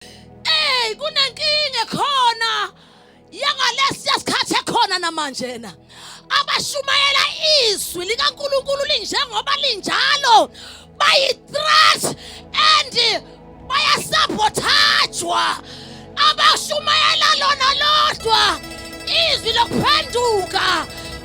Hey kunenkinga khona yangalesiya sikhathi ekhona namanje na abashumayela izwi likaNkuluNkulu linjengoba linjalo bayi threat and bayasabothathwa abashumayela lona lodwa izwi lokuphenduka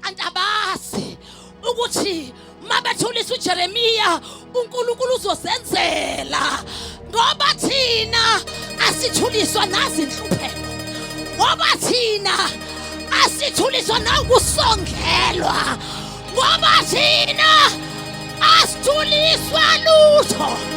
kanti abazi ukuthi uma bethulisa ujeremiya unkulunkulu uzosenzela ngoba thina asithuliswa nazinhlupheko ngoba thina asithuliswa nawukusongelwa ngoba thina asithuliswa lutho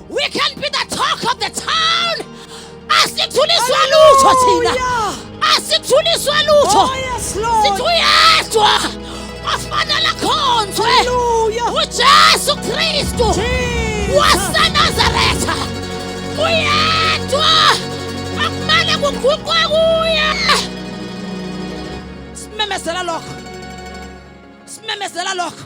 We can be the talk of the town. Asithuliswa lutho thina. Asithuliswa lutho. Oh, yes, Lord. Sithi uyedwa ofanele akhonzwe. Hallelujah. UJesu Kristu Jesus. waseNazaretha. Uyedwa akumele kuguqwe kuye. Simemezela lokho. Simemezela lokho.